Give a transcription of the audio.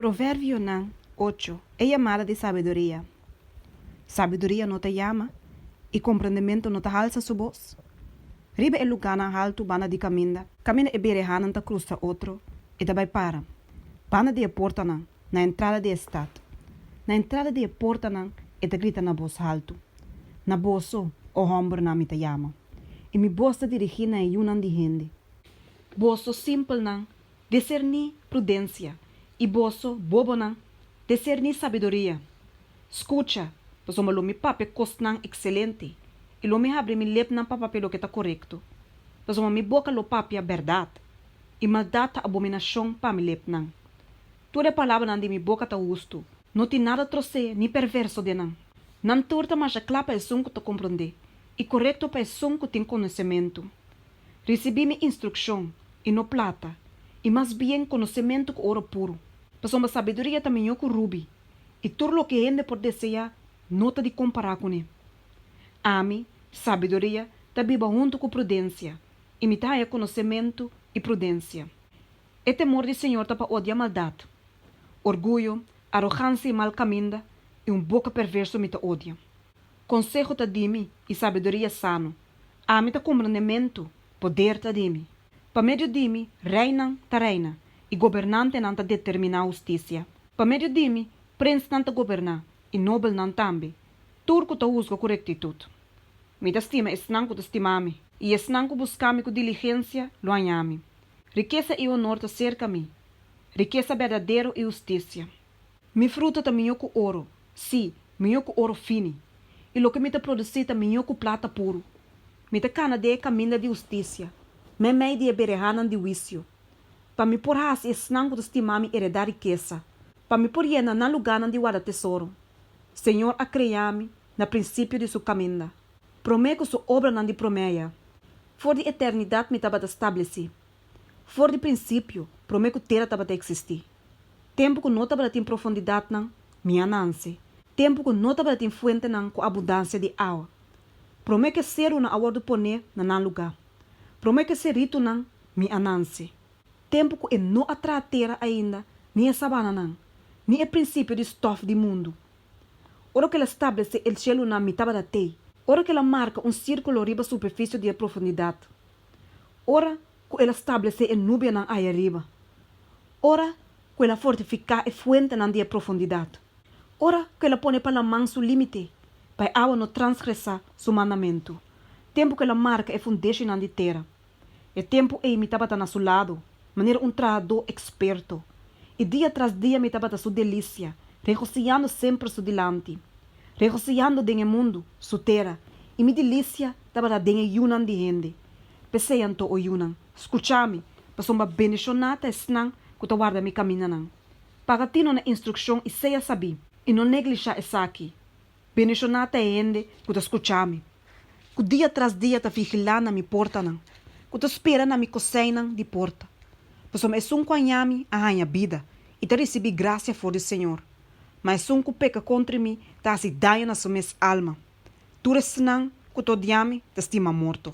Proverbionan ocho. E yamada di sabiduria. Sabiduria no ta yama, i komprendementu no ta halsa su bos. Riba e lugánan haltu banda di kaminda. Kaminda e berehanan ta krusa otro, e ta bai para banda di e portanan na entrada di e stat. Na entrada di e portanan e ta grita na bos haltu, Na boso, o hòmbernan, mi ta yama, i mi bos ta dirigí na e yunan di hende. Boso simpelnan Deserní prudensia, i boso bobonan, deserní sabiduria. Skucha, pasobra lo mi papia kosnan ekselente, i lo mi habri mi lepnan pa papia loke ta korekto. Pasobra mi boka lo papia bèrdat, i maldat ta abominashon pa mi lepnan. Tur e palabranan di mi boka ta hustu. No tin nada trosé ni perverso den nan. Nan tur ta masha kla pa esun ku ta komprondé, i korekto pa esun ku tin konosementu. Risibí mi instrukshon, i no plata, i mas bien konosementu ku oro puru. Pasobra sabiduria ta mihó ku rubi, i tur loke hende por deseá no ta di kompará kuné. Ami, sabiduria, ta biba huntu ku prudensia, i mi ta haña konosementu i prudensia. E temor di señor ta pa odia maldat. Orguyo, arogansia i mal kaminda, i un boka perverso mi ta odia. Konseho ta di mi, i sabiduria sano. Ami ta kumprendementu, poder ta di mi. Pa medio di mi, reinan ta reina, i gobernantenan ta determiná hustisia. Pa medio di mi, prinsnan ta goberná, i nobelnan tambe. Tur ku ta husga ku rektitut. Mi ta stima esnan ku ta stima mi, i esnan ku buska mi ku diligensia lo haña mi. Rikesa i onor ta serka mi, rikesa berdadero i hustisia. Mi fruta ta mihó ku oro, sí, mihó ku oro fini, i loke mi ta produsí ta mihó ku plata puru. Mi ta kana den e kaminda di hustisia, meimei di e berehanan di huisio, pa mi por hasi esnan ku ta stimá mi eredá rikesa, pa mi por yena nan lugánan di warda tesoro. Señor a kreá mi na prinsipio di su kaminda, promé ku su obranan di proméia. For di eternidat mi tabata stablesí, For di prinsipio, promé ku tera tabata eksistí. Tempu ku no tabata tin profundidatnan, mi a nanse. Tempu ku no tabata tin fuentenan ku abundansia di awa. Promé ku e serunan a wòrdu poné na nan lugá. Promé ku e seritunan, mi a nanse. Tempu ku e no a traha tera ainda, ni e sabananan, ni e prinsipio di stòf di mundu. Ora ku el a stablesé e sielunan, mi tabata tei. Ora ku el a marka un sírkulo riba superfisio di e profundidat, ora ku el a stablesé e nubianan aya riba, ora ku el a fortifiká e fuentenan di e profundidat, ora ku el a pone pa laman su límite, pa e awa no transgresá su mandamentu, tempu ku el a marka e fundeshinan di tera. E tempu ei mi tabata na su ladu, manera un trahadó eksperto, i dia tras dia mi tabata su delisia, regosiyando semper su dilanti. regosiyando den e mundu, su tera, i mi dilisia tabata den e yunan di hende. P'esei anto, o yunan, skucha mi, pasobra bendishoná ta esnan ku ta warda mi kamindanan. Paga tino na instrukshon i sea sabí, i no neglishá esaki, Bendishoná ta e hende ku ta skucha mi. ku dia tras dia ta vigilá na mi portanan, ku ta spera na mi koseinan di porta. Pasobra esun ku haña mi a haña bida i ta risibí grasia for di Señor, ma esun ku peka kontra mi ta hasi daño na su mes alma. Tur esnan ku ta odiá mi ta stima morto.